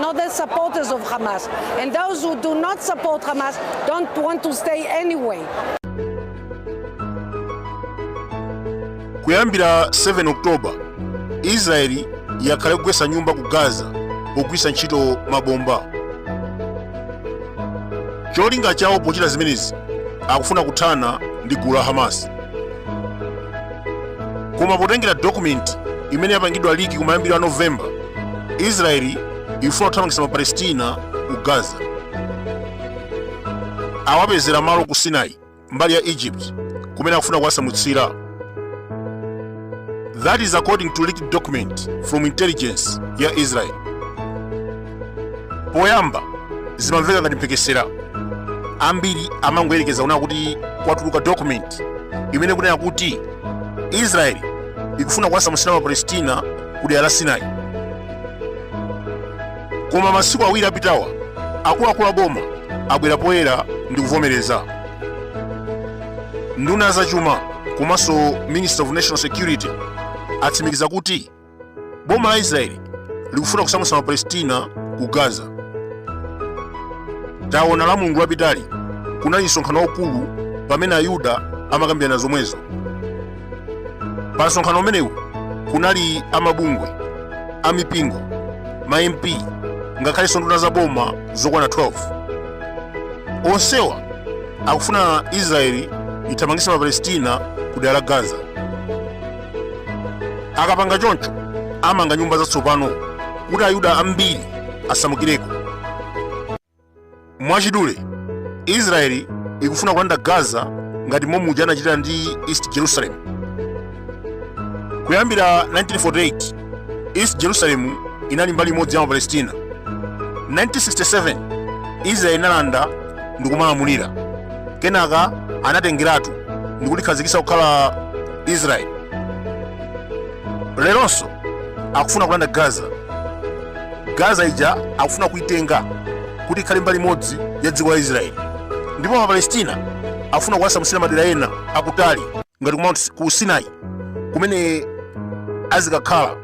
not the supporters of Hamas. And those who do not support Hamas don't want to stay anyway. kuyambira 7 oktoba israeli yakhala ikugwetsa nyumba ku gaza pogwiritsa ntchito mabomba cholinga chawo pochita zimenezi akufuna kuthana ndi gulu la hamas koma potengera dokumenti imene yapangidwa liki kumayambiro a novemba israeli ikufuna kuthamangitsa mapalestina ku gaza awapezera malo ku sinai mbali ya egypt kumene akufuna kuwasamutsira that is according to leaked document from intelligence ya israel poyamba zimamveka ngati mphekesera ambiri amangoyerekeza kunena kuti kwatuluka document imene ikunena kuti israeli ikufuna kuwasamutsira mapalestina ku dera la sinai koma masiku awiri apitawa akuluakulu a boma abwera poyera ndi kuvomereza nduna ya zachuma komanso minister of national security atsimikiza kuti boma la israeli likufuna kusamutsa mapalestina ku gaza taona la mulungu lapitali kunali msonkhano waukulu pamene ayuda amakambirana zomwezo pa msonkhano umenewu kunali amabungwe amipingo ma mp ngakhalenso nduna za boma zokwana 12 onsewa akufuna israeli ithamangitse mapalestina ku dera la gaza akapanga choncho amanga nyumba zatsopano kuti ayuda ambiri asamukireko mwachidule israeli ikufuna kulanda gaza ngati momwe muja anachita ndi east jerusalem kuyambira 1948 east jerusalem inali mbali imodzi ya mapalestina 1967 israeli inalanda ndikumalamulira kenaka anatengeratu ndikulikhazikitsa kukhala israeli leronso akufuna kulanda gaza gaza ija akufuna kuitenga kuti ikhale mbali imodzi ya dziko la israeli ndipo mapalestina akufuna kuwasamutsira madera ena akutali ngati ku sinai kumene azikakhala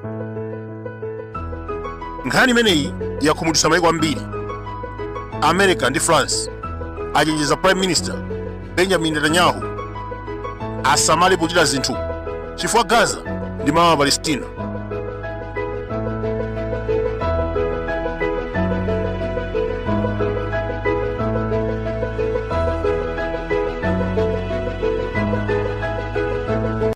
nkhani imeneyi yakhumudwitsa maiko ambiri america ndi france achenjeza prime minister benjamin netanyahu asamale pochita zinthu chifukwa gaza ndi malo a palestina